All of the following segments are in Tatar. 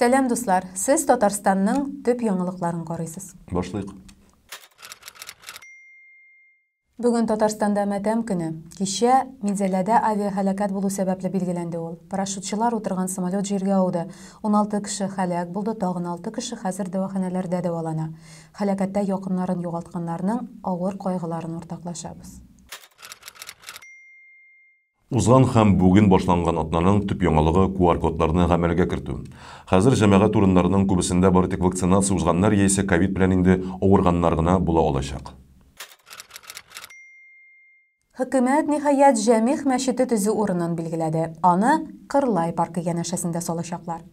Сәлам дуслар, сез Татарстанның төп яңалыкларын карыйсыз. Башлыйк. Бүген Татарстанда матәм көне. Кичә Минзәләдә авиахәләкәт булу сәбәпле билгеләнде ул. Парашютчылар утырган самолет җиргә ауды. 16 кеше хәләк булды, тагын 6 кеше хәзер дәваханәләрдә дәвалана. Хәләкәттә якыннарын югалтканнарның авыр кайгыларын уртаклашабыз. Узган һәм бүген башланган атнаның төп яңалыгы, QR-кодларны гамәлгә кертү. Хәзер җәмәгать урыннарының күбесендә бары тик вакцинация узганнар яисә ковид белән инде авырганнар гына була алачак. Хөкүмәт, ниһаять, Җәмигъ мәчете төзү урынын билгеләде. Аны Кырлай паркы янәшәсендә салачаклар.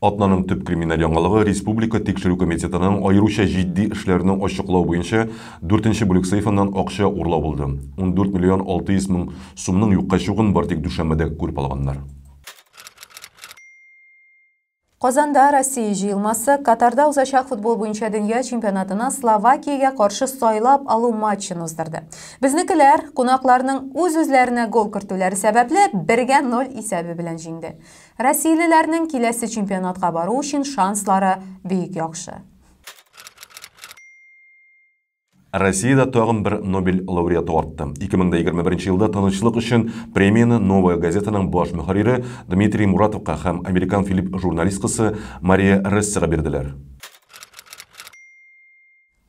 Атнаның төп криминаль яңалыгы, республика тикшерү комитетының аеруча җитди эшләрне ачыклау буенча дүртенче бүлек сейфыннан акча урлау булды. Ундүрт миллион алты йөз мең сумның юкка чыгуын бары тик дүшәмбедә күреп алганнар. Казанда Россия җыелмасы Катарда узачак футбол буенча дөнья чемпионатына Словакиягә каршы сайлап алу матчын уздырды. Безнекеләр, кунакларның үз-үзләренә гол кертүләре сәбәпле, бергә ноль исәбе белән җиңде. Россиялеләрнең киләсе чемпионатка бару өчен шанслары бик яхшы. Россиядә тагын бер Нобель лауреаты артты. 2021 елда Тынычлык өчен премияне Новая газетаның баш мөхәррире Дмитрий Муратовка һәм американ Филипп журналисткасы Мария Рессега бирделәр.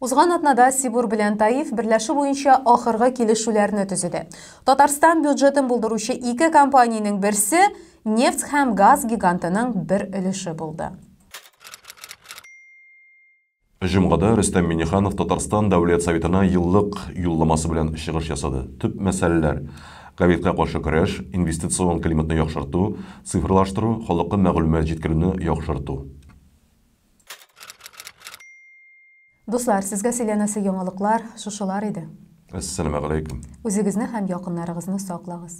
Узган атнада Сибур белән Таиф берләшү буенча ахыргы килешүләрне төзеде. Татарстан бюджетын булдыручы ике компаниянең берсе нефть һәм газ гигантының бер өлеше булды. Җомгада Рөстәм Миңнеханов Татарстан Дәүләт Советына еллык Юлламасы белән чыгыш ясады. Төп мәсьәләләр, ковидка каршы көрәш, инвестицион климатны яхшырту, цифрлаштыру, халыкка мәгълүмат җиткерүне яхшырту. Дуслар, сезгә сөйләнәсе яңалыклар шушылар иде. Әссәламәгаләйкүм. Үзегезне һәм якыннарыгызны саклагыз.